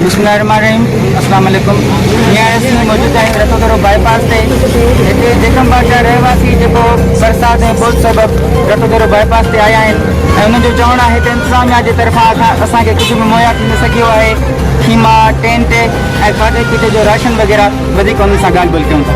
بسم الله الرحمٰن الرحيم اسلام عليڪم جي آء ايس ۾ موجود آهيون رتو ٿورو باء پاس تي هتي جيڪم باغ جا رهواسي جيڪو برسات ۽ ٻوڏ سبب رتو ٿورو باء پاس تي آيا آهن ۽ انهن جو چوڻ آهي ته انتظاميا جي طرفان اسان کي ڪجهه به مهيا ٿي نه سگهيو آهي خيما ٽينٽ ۽ کاڌي پيتي جو راشن وغيره وڌيڪ انهن سان ڳالهه ٻولهه ڪيون ٿا.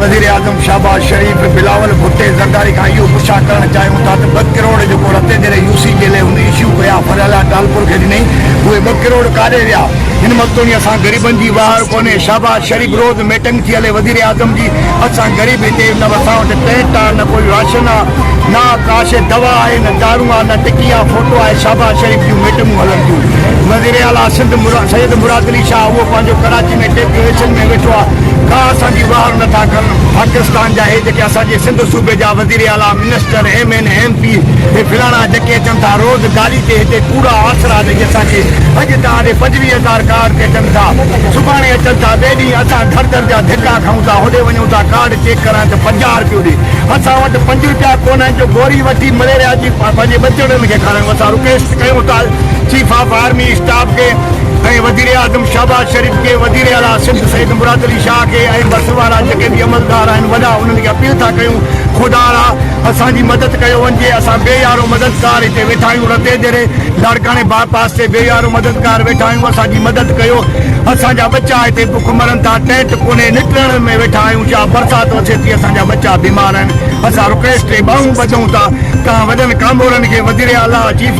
وزيراعظم شهباز شريف بلاول ڀٽي زرداري کان اهو پڇا ڪرڻ چاهيون ٿا ته ٻه ڪروڙ جيڪو رتي ديري يو سي جي لئه هن ايشو ڪيا فرحلا ٽالپر کي ڏنئي اهي ٻه ڪروڙ ڪاڏي ويا هن مستوني اسان غريبن جي واهڙ ڪونهي شهباز شريف روز ميٽنگ ٿي هلي وزيراعظم جي اسان غريب هتي نه اسان وٽ ٽينٽ آ نه ڪوئي راشن آ نه ڪاش دوا آهي نه دارون آ نه ٽڪي آ فوٽو آهي شهباز شريف جون ميٽنگون هلن ٿيون وزيراعليٰ سنڌ سيد مراد علي شاهه اهو پنهنجو ڪراچي ۾ ٽيپ جو ايڇن ۾ ويٺو آ ڪا اسان جي واهر نه ٿا ڪن پاڪستان جا هي جيڪي اسان جي سنڌ صوبي جا وزير اعليٰ minister M N M P هي فلاڻا جيڪي اچن ٿا روز گالي تي هتي ڪوڙا آسرا ڏئي اسان کي اڄ تان اڏي پنجويهه هزار ڪارڊ تي اچن ٿا سڀاڻي اچن ٿا ٻئي ڏينهن اسان ڌر ڌر جا ڌڪا کائون ٿا هوڏي وڃون ٿا ڪارڊ چيڪ ڪرائڻ ته پنجاهه رپيو ڏي اسان وٽ پنج رپيا ڪونهن جو گوري وٺي مليريا جي پنهنجي ٻچڙن کي کارائيون اسان رڪويسٽ ڪيون ٿا چيف آف آرمي اسٽاف کي ۽ وزيراعظم شهباز شريف کي، وزيراعليٰ سنڌ سيد مراد علي شاهه کي ۽ بس وارا جيڪي به عملدار آهن وڏا انهن کي اپيل ٿا ڪيون خدارا اسان جي مدد ڪيو وڃجي اسان بي يارو مددگار هتي ويٺا آهيون رتي ديري لاڙڪاڻي باء پاس تي بي يارو مددگار ويٺا آهيون اسان جي مدد ڪيو اسان جا ٻچا هتي بک مرن ٿا ٽينٽ ڪونهي نٽرڻ ۾ ويٺا آهيون شاهه برسات اچي ٿي اسان جا ٻچا بيمار آهن اسان رڪويسٽ ۽ ٻانهون ٻڌون ٿا توهان وڏن ڪامورن کي وزيراعليٰ چيف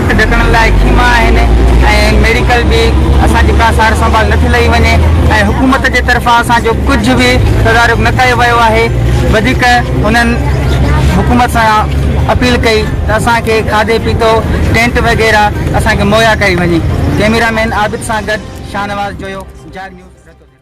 ڍڪڻ لاء خيما آهن ۽ ميڊيڪل به اسان جي ڪا سار سنڀال نه ٿي لئي وڃي ۽ حڪومت جي طرفان اسان جو ڪجهه به تدارڪ نه ڪيو ويو آهي وڌيڪ هنن حڪومت سان اپيل ڪئي ته اسان کي کاڌي پيتو ٽينٽ وغيره اسان کي مهيا ڪئي وڃي ڪيميرا مين عابد سان گڏ شاهنواز جويو جاڳ نيوز رتوديرو.